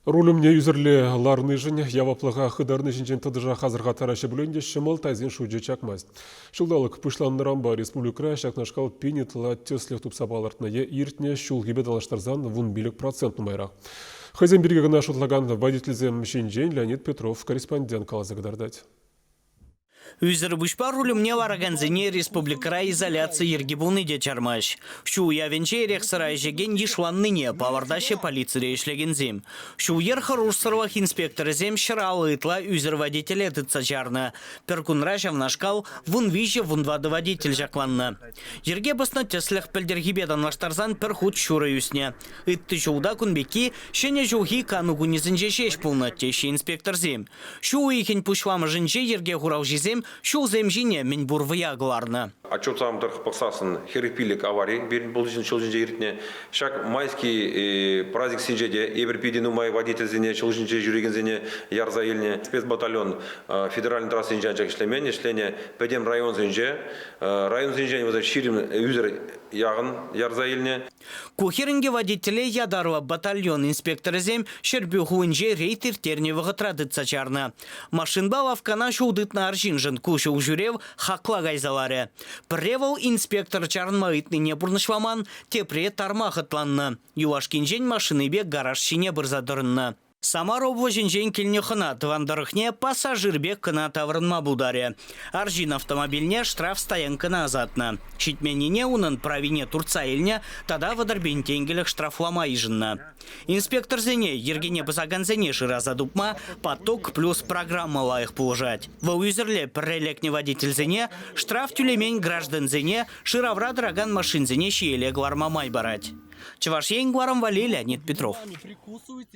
Руль умне ӳсӗрле ларнишӗн, яваплӑха хытарни ҫинчен тӑтӑшах асӑрхаттараҫҫӗ пулин те ҫӑмӑл тайсен шучӗ чакмасть. Ҫулталӑк пуҫланнӑранпа республикӑра ҫакнашкал пин ытла тӗслӗх тупса палӑртнӑ е иртнӗ ҫулхипе танлаштарсан вун пилӗк процент нумайрах. Хӑйсем пирки кӑна шутлакан водительсем ҫинчен Леонид Петров корреспондент каласа кӑтартать. Ӳсӗр пуҫпа руль умне ларакансене республикӑра изоляци йӗрки пулни те чармасть. Ҫу уявӗнче эрех-сӑра ӗҫекен йышланнине палӑртаҫҫӗ полицире ӗҫлекенсем. Ҫул-йӗр хӑрушсӑрлӑх инспекторӗсем ҫӑраллӑ ытла ӳсӗр водителе тытса чарнӑ. Пӗр кунра ҫавнашкал вун виҫӗ вун тӑватӑ водитель ҫакланнӑ. Йӗрке пӑснӑ тӗслӗх пӗлтӗрхипе танлаштарсан пӗр хут ҫурӑ ӳснӗ. Ытти ҫулта кун пекки ҫӗнӗ ҫулхи кану кунӗсенче ҫеҫ пулнӑ, теҫҫӗ инспекторсем. Ҫу уйӑхӗн пуҫламӑшӗнче йӗрке хуралҫисем ҫулсем ҫине мӗнпур вӑя кӑларнӑ. Отчетсам тӑрӑх пӑхсассӑн хӗрӗх пилӗк авари пирӗн пулӑҫӑн ҫул ҫинче иртнӗ. Ҫак майски праздниксенче те эпир питӗ нумай водительсене, ҫул ҫинче ҫӳрекенсене ярса илнӗ. Спецбатальон федеральнӑй трассинче анчах ӗҫлемен, ӗҫленӗ пӗтӗм районсенче. Районсенчен вӗсем ҫирӗм ӳсӗр яхӑн ярса илнӗ. Ку хӗрӗнке водителе ятарлӑ батальон инспекторӗсем Ҫӗрпӳ хулинче рейд ирттернӗ вӑхӑтра тытса чарнӑ. Машинпа лавккана ҫул тытнӑ арҫыншӑн ку ҫулҫӳрев хакла кайса ларӗ. Пӗрре вӑл инспектор чарӑнма ыйтнине пурнӑҫламан, тепре тарма хӑтланнӑ. Юлашкинчен машинипе гараж ҫине пырса тӑрӑннӑ. Самар облаҫӗнчен килнӗ хӑна тӑван тӑрӑхне пассажир пек кӑна таврӑнма пултарӗ. Арҫын автомобильне штрафстоянкӑна ӑсатнӑ. Ҫитменнине унӑн правине туртса илнӗ тата вӑтӑрпин тенкӗлӗх штрафлама йышӑннӑ. Инспекторсене, йӗркене пӑсакансене шыраса тупма «Поток плюс» программа лайӑх пулӑшать. Вӑл ӳсӗрле пӗрре лекнӗ водительсене, штраф тӳлемен граждансене, шыравра тӑракан машинсене ҫиеле кӑларма май парать. Чӑваш Ен, Гварам валли Леонид Петров.